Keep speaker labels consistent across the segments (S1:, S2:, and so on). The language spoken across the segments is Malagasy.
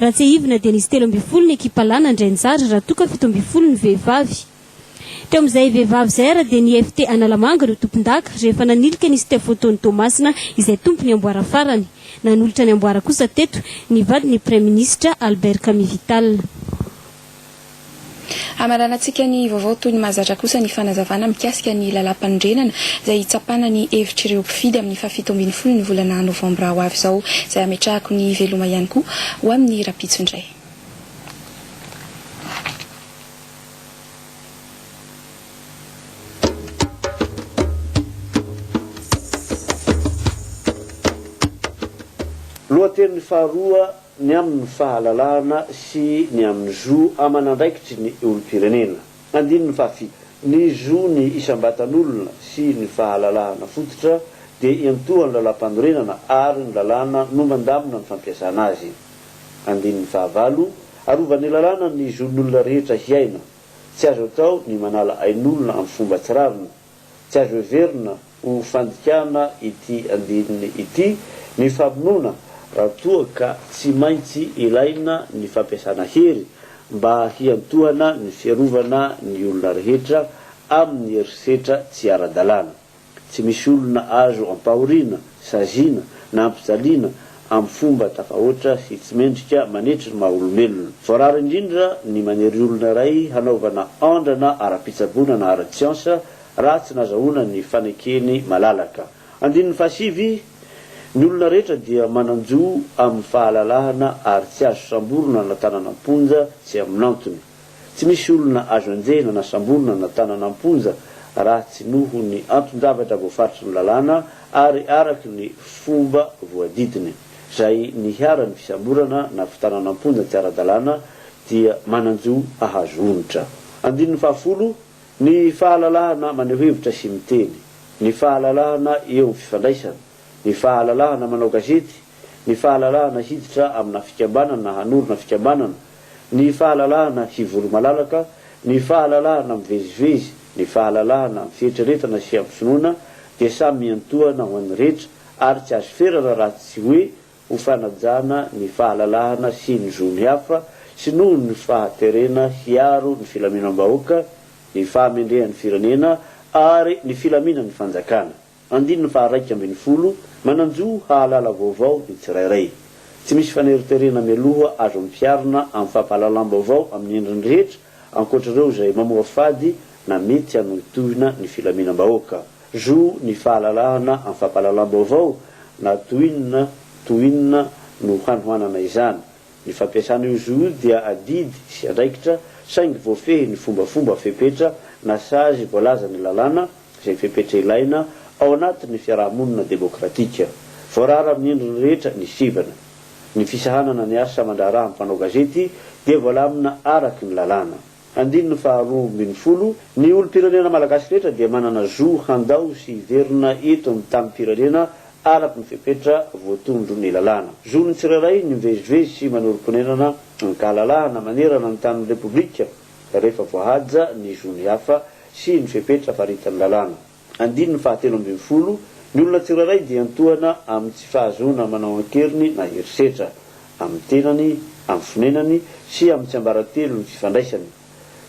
S1: Raha tsiahivina dia nisy telo ambin'ny folo ny ekipa lahy nandray anjara raha toa ka fito ambin'ny folo ny vehivavy. Teo amin'izay vehivavy izay ary dia ny FT Analamanga no tompondaka rehefa nanilika ny Steph Otony Toamasina izay tompon'ny amboara farany. Nanolotra ny amboara kosa teto ny vadin'ny praiminisitra Albert Kamivital.
S2: Hamaranantsika ny vaovao toy ny mahazatra kosa ny fanazavana mikasika ny lalàmpanorenana izay hitsapana ny hevitr'ireo mpifidy amin'ny fahafito ambin'ny folon'ny volana novambra ho avy izao izay hametrahako ny veloma ihany koa ho amin'ny rahampitso indray.
S3: Lohateny faharoa. ny amin'ny fahalalahana sy ny amin'ny zo aman'andraikitry ny olom-pirenena. Andininy fahafito. Ny zo ny isam-batan'olona sy ny fahalalahana fototra dia iantohan'ny lalàmpanorenana ary ny lalàna no mandamina ny fampiasana azy. Andininy fahavalo. Arovan'ny lalàna ny zon'olona rehetra hiaina. Tsy azo atao ny manala ain'olona amin'ny fomba tsy rariny. Tsy azo heverina ho fandikana ity andininy ity ny famonoana raha toa ka tsy maintsy ilaina ny fampiasana hery mba hiantohana ny fiarovana ny olona rehetra amin'ny herisetra tsy ara-dalàna. Tsy misy olona azo ampahoriana saziana, nampijaliana amin'ny fomba tafahoatra sy tsy mendrika manetry ny maha olombelona. Voarara indrindra ny manery olona iray hanaovana andrana ara-pitsaboana na ara-tsiansa raha tsy nazahoana ny fanekeny malalaka. Andininy fahasivy, Ny olona rehetra dia manan-jo amin'ny fahalalahana ary tsy azo samborina na tànana am-ponja tsy amin'antony. Tsy misy olona azo enjehina na samborina na tanana am-ponja raha tsy noho ny anton-javatra voafaritry ny lalàna ary araka ny fomba voadidiny. Izay niharan'ny fisamborana na fitanana am-ponja tsy ara-dalàna dia manan-jo hahazo onitra. Andininy fahafolo, Ny fahalalahana maneho hevitra sy miteny, ny fahalalahana eo amin'ny fifandraisana, ny fahalalahana manao gazety, ny fahalalahana hiditra amina fikambanana na hanorina fikambanana, ny fahalalahana hivolo malalaka, ny fahalalahana mivezivezy, ny fahalalahana amin'ny fieritreretana sy hampisonona dia samy miantohana ho an'ny rehetra ary tsy azo ferana raha tsy hoe ho fanajana ny fahalalahana sy ny zon'ny hafa sy noho ny fahaterena hiaro ny filaminam-bahoaka, ny fahamendrehan'ny firenena ary ny filaminan'ny fanjakana. Andininy faha iraika ambin'ny folo, Manan-jo hahalala vaovao ny tsirairay. Tsy misy faneriterena mialoha azo ampiharina amin'ny fampahalalam-baovao amin'ny endriny rehetra ankoatra ireo izay mamoafady na mety hanohitohina ny filaminam-bahoaka. Zo ny fahalalahana amin'ny fampahalalam-baovao na toy inona toy inona no hanohanana izany. Ny fampiasana io zo io dia adidy sy andraikitra saingy voafehy ny fombafomba fepetra na sazy voalazan'ny lalàna, izay fepetra ilaina ao anatin'ny fiaraha-monina demokratika voarara amin'ny endriny rehetra ny sivana. Ny fisahanana ny asa aman-draharaha amin'ny mpanao gazety dia voalamina araky ny lalàna. Andininy faha roa ambin'ny folo, Ny olom-pirenena malagasy rehetra dia manana zo handao sy hiverina eto amin'ny tanim-pirenena araky ny fepetra voatondro ny lalàna. Zon'ny tsirairay ny mivezivezy sy manorim-ponenana ankahalalahana manerana ny tanin'ny Repoblika rehefa voahaja ny zon'ny hafa sy ny fepetra faritan'ny lalàna. Andininy fahatelo ambin'ny folo, Ny olona tsirairay dia antohana amin'ny tsy fahazoana manao an-keriny na herisetra, amin'ny tenany, amin'ny fonenany sy amin'ny tsiambaratelony sy fandraisany.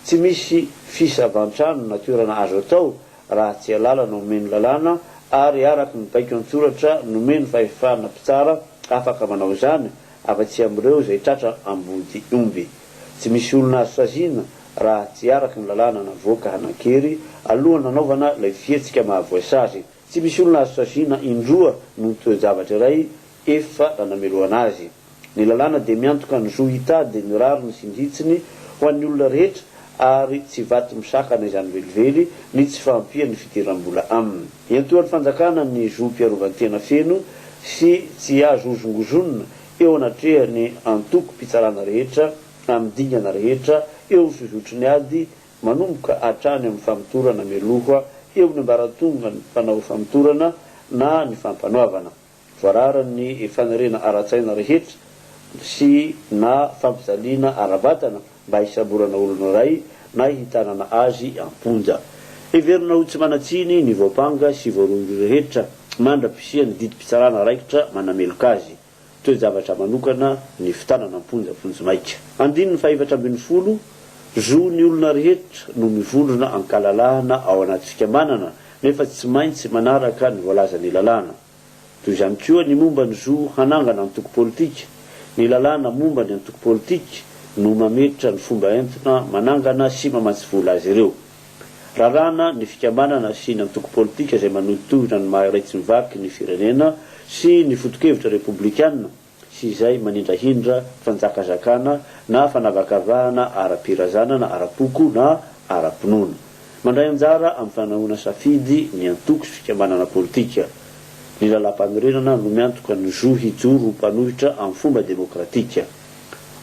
S3: Tsy misy fisavan-trano na toerana azo atao raha tsy alalana omen'ny lalàna ary araka ny baiko an-tsoratra nomen'ny fahefana mpitsara afaka manao izany afa-tsy amin'ireo izay tratra ambodiomby. Tsy misy olona azo saziana raha tsy araka ny lalàna navoaka hanan-kery alohan'ny nanaovana ilay fihetsika mahavoasazy. Tsy misy olona azo saziana indroa noho ny toe-javatra iray efa nanamelohana azy. Ny lalàna dia miantoka ny zo hitady ny rariny sy ny hitsiny ho an'ny olona rehetra ary tsy vato misakana izany velively ny tsy fahampian'ny fidiram-bola aminy. Iantohan'ny fanjakana ny zom-piarovan-tena feno sy tsy azo hozongozonina eo anatrehan'ny antokom-pitsarana rehetra, amin'ny dingana rehetra eo ny fizotry ny ady, manomboka hatrany amin'ny famotorana mialoha eo amin'ny ambaratongan'ny mpanao famotorana na ny fampanoavana. Voararan'ny faniriana ara-tsaina rehetra sy na fampijaliana ara-batana mba hisamborana olona iray na hitanana azy am-ponja. Heverina ho tsy manan-tsiny ny voampanga sy voarohirohy rehetra mandra-pisian'ny didim-pitsarana raikitra manameloka azy. toe-javatra manokana ny fitanana am-ponja vonjimaika. Andininy fahefatra ambin'ny folo, Zo ny olona rehetra no mivondrona an-kalalahana ao anaty fikambanana nefa tsy maintsy manaraka ny voalazan'ny lalàna. Toy izany koa ny momba ny zo hanangana antoko politika, ny lalàna momba ny antoko politika no mametra ny fomba entina manangana sy mamatsy vola azy ireo. Raràna ny fikambanana sy ny antoko politika izay manohitohina ny maha-iray tsy mivaky ny firenena sy ny foto-kevitra repoblikana sy izay manindrahindra fanjakazakana na fanavakavahana ara-pirazana na ara-poko na ara-pinoana. Mandray anjara amin'ny fanehoana safidy ny antoko sy fikambanana politika. Ny Lalàmpanorenana no miantoka ny zo hijoro ho mpanohitra amin'ny fomba demokratika.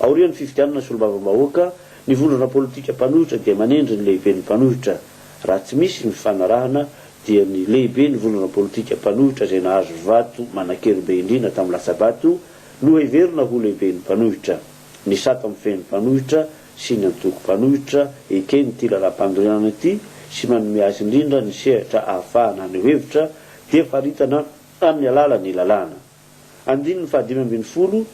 S3: Aorian'ny fifidianana solombavambahoaka, Ny vondrona politika mpanohitra dia manendry ny lehiben'ny mpanohitra. Raha tsy misy ny fifanarahana dia ny lehiben'ny vondrona politika mpanohitra izay nahazo vato manan-kery be indrindra tamin'ny latsa-bato no heverina ho lehiben'ny mpanohitra. Ny sata mifehy ny mpanohitra sy ny antoko mpanohitra eken'ity lalam-panorenana ity sy manome azy indrindra ny sehatra ahafahana haneho hevitra dia faritana amin'ny alalan'ny lalàna. Andininy fahadimy ambin'ny folo,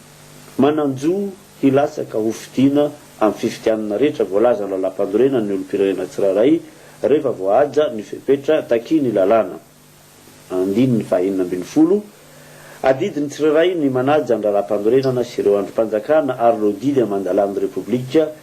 S3: Manan-jo hilatsaka ho fidiana amin'ny fifidianana rehetra voalaza lalampandorena ny olom-pirenena tsirairay rehefa voahaja ny fepetra takian'ny lalàna. Andininy fahenina ambin'ny folo, Adidy ny tsirairay ny manaja ny lalampanorenana sy ireo andrim-panjakana ary ireo didy aman-dalàn'ny Repoblika